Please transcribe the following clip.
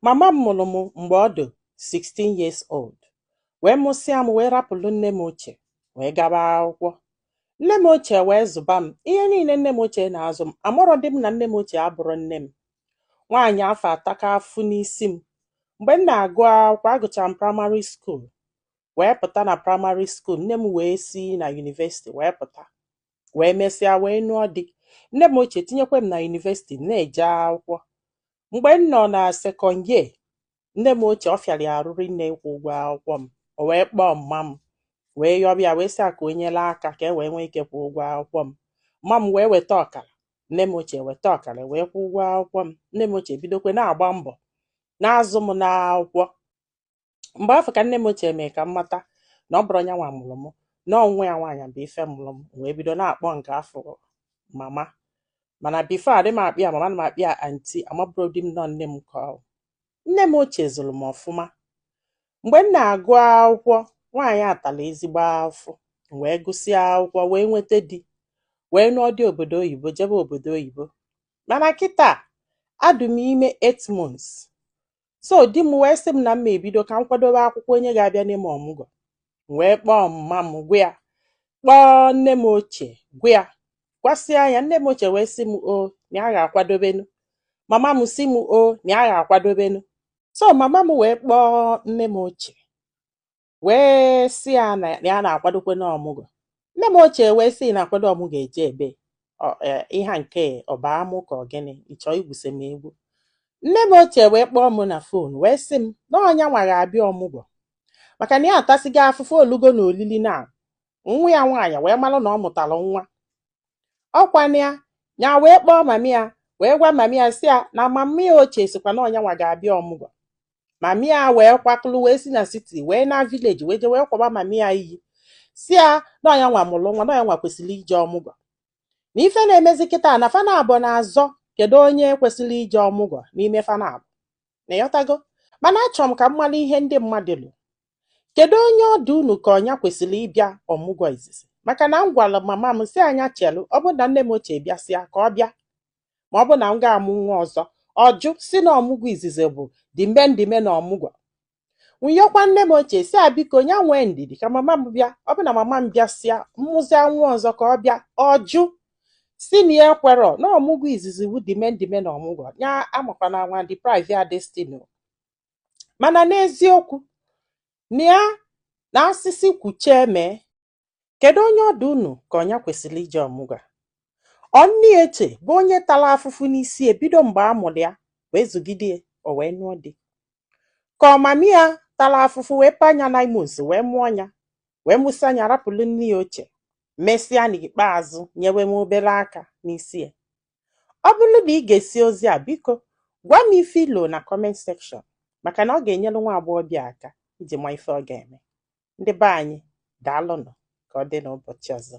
Mama m mụrụ m mgbe ọ dị 16 years old wee mụsịa m wee rapụrụ nne m ochie wee gaba akwụkwọ. Nne m ochie wee zụba m ihe niile nne m ochie na-azụ m amarọ dị m na nne m ochie abụrọ nne m. Nwaanyị afụ ataka afụfụ n'isi m. Mgbe m na-agụ akwụkwọ agụchara m praịmarị skuul wee pụta na praịmarị skuul nne m wee si na yunivesiti wee pụta wee mesịa wee nụọ di nne m ochie tinyekwa m na yunivesiti na-eje akwụkwọ mgbe m nọ na second year nne m ochie ọ fịara ya arụ rinne ịkwụ ụgwọ akwụkwọ m o wee kpọọ mma m wee yọba ya wee sị ya ka o nyere aka ka e wee nwee ike kwụọ ụgwọ akwụkwọ m mma m wee weta ọkara nne m ochie weta ọkara wee kwụọ ụgwọ akwụkwọ m nne m ochie bidokwe na-agba mbọ na-azụ m n'akwụkwọ mgbe afụ ka nne m ochie mee ka m mata na ọ bụrọ nya nwa mụrụ m na ọ nwa ya nwaanyị bụ ife mụrụ m wee bido na-akpọ nke afụ mama mana bifo adị m akpọ ya mama na m akpọ ya anti amabụrọ dị m na ọ nne m ka ọ nne m ochie zụrụ m ọfụma mgbe m na-agụ akwụkwọ nwaanyị atala ezigbo afụfụ wee gụsịa akwụkwọ wee nweta di wee nụọ di obodo oyibo jebe obodo oyibo mana kịta adụ m ime 8 months so di m wee sị m na m ebido ka m kwadobe akwụkwọ onye ga-abịa nee m ọmụgwọ m wee kpọọ mma m gwa ya kpọọ nne m ochie gwa ya gwasịa ya nne m ochie wee sị m o na ya ga-akwadobenu mama m sị m o na ya ga-akwadobenu so mama m wee kpọọ nne m ochie wee sị ya na ya na-akwadokwenu ọmụgwọ nne m ochie wee sị na-akwado ọmụgwọ eje ebe e, ihe nke a ọ bụ amụ ka ọ gịnị ị chọ igwuse m egwu nne m ochie wee kpọọ m na fon wee sị m na ọ nya nwa ga-abịa ọmụgwọ maka na ya atasigo afụfụ o lugo na olili na nwa ya nwaanyị wee malụ na ọ mụtara nwa ọ kwa na nya wee kpọọ mami ya wee gwa mami ya sị ya na mami ya ochie sịkwa na ọ nya nwa ga-abịa ọmụgwọ mami ya wee kwakọlụ wee si na siti wee naa vileji wee je wee kwaba mami ya iyi sị ya na ọ nya nwa mụrụ nwa na ọ nya nwa kwesịrị ije ọmụgwọ na ife na-emezi kịta na fa naabọ na-azọ kedu onye kwesịrị ije ọmụgwọ n'ime fa naabọ na ị ghọtago mana achọrọ m ka m mara ihe ndị mmadụ lo kedu onye ọ dụ unu ka ọ nya kwesịrị ịbịa ọmụgwọ izizi maka na m gwara mama m sị ya nya chelu ọ bụ na nne m ochie bịasịa ka ọ bịa ma ọ bụ na m ga-amụ nwa ọzọ ọ jụ sị na ọmụgwọ izizi bụ the main the main ọmụgwọ m yọkwa nne m ochie sị ya biko nya nwee ndidi ka mama m bịa ọ bụ na mama m bịasịa m mụzia nwa ọzọ ka ọ bịa ọ jụ sị na ya ekwerọ na ọmụgwọ izizi bụ the main the main na ọmụgwọ ya amakwana anwa deprive ya destiny o mana n'eziokwu na ya na asịsị kwuchie mee kedu onye ọ dị unu ka ọ nya kwesịrị ije ọmụgwọ ọ nne ochie bụ onye tara afụfụ n'isi ebido mgbe a mụrụ ya wee zụgide o wee nụọ di Ka ọ mummy ya tara afụfụ wee paa nya nine months wee mụọ nya wee mụsịa nya rapụlụ nne ya ochie mesịa n'ikpeazụ nyewe m obere aka n'isi ya. Ọ bụrụ na i gesịa ozi a biko gwa m ife i lo na comment section maka na ọ ga-enyere nwa agbọghọbịa aka iji ma ife ọ ga-eme. Ndị be anyị daalụnụ ka ọ dị n'ụbọchị ọzọ.